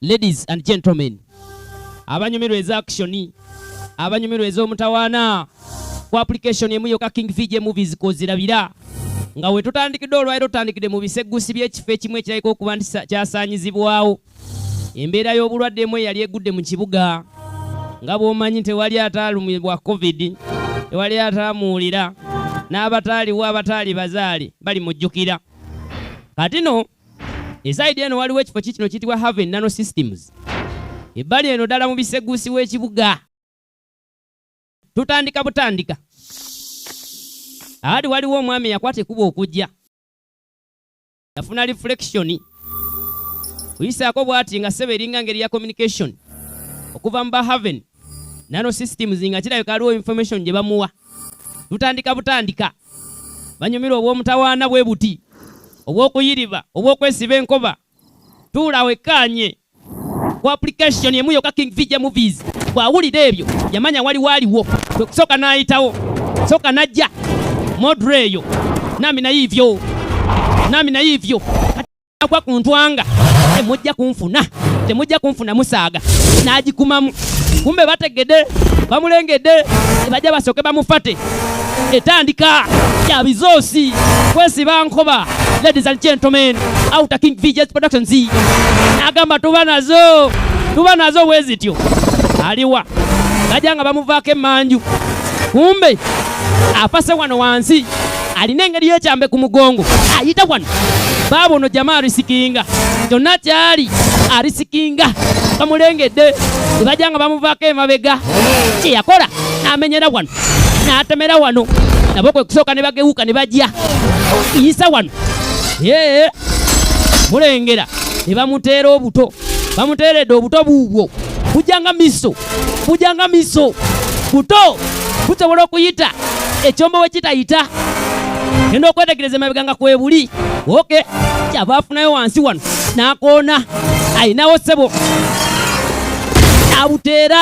Ladies and gentlemen, abanyumirwa eza action, abanyumirwa ez'omutawaana ku application emu yoka King VJ Movies kozirabira nga we tutandikidde olwaliro tutandikidde mu biseggusi by'ekifo ekimu ekirabika okuba nti kyasaanyizibwawo embeera y'obulwadde emu eyali egudde mu kibuga nga bw'omanyi tewali ataalumibwa covid tewali ataamuwulira n'abataaliwo abataali bazaale balimujjukira kati no esaidi eno waliwo ekifo kikino kiyitibwa haven nano systems ebbali eno ddala mu biseguusi w'ekibuga tutandika butandika aali waliwo omwami eyakwata ekuba okujja yafuna reflection kuyisaako bwati nga sebe eringa ngeri ya communication okuva mu bahaven nano systems nga kirabika aliwo information gye bamuwa tutandika butandika banyumirwa obw'omutawaana bwe buti obw'okuyiriba obw'okwesiba enkoba tuula wekkaanye ku application emu yoka king vija movies bw'awulira ebyo yamanya waliwo aliwo kwe kusooka n'ayitawo sooka n'ajja modre eyo nami naye ivyo nami naye ivyo agwa ku ntwanga temujja kunfuna temujja kunfuna musaaga n'agikumamu kumbe bategede bamulengedde tebajja basooke bamufate etandika ya bizoosi kwesiba nkoba ladies and gentlemen outer king vgs productions agamba tuba nazo tuba nazo wezityo aliwa bajja nga bamuvaako emanju kumbe afase wano wansi alina engeri yekyambe ku mugongo ayita wano baaba ono jama arisikinga kyonna kyali arisikinga bamulengedde nebajja nga bamuvaako emabega kyeyakola namenyera wano natemera wano nabo kwe kusooka ne bagewuka ne bajja iyisa wano mulengera ne bamuteera obuto bamuteeredde obuto buubwo bujanga miso bujanga miso buto busobola okuyita ekyombo we kitayita genda okwetegereza emabega nga kwebuli oke kyava afunayo wansi wano nakoona ayinawo sebo abuteera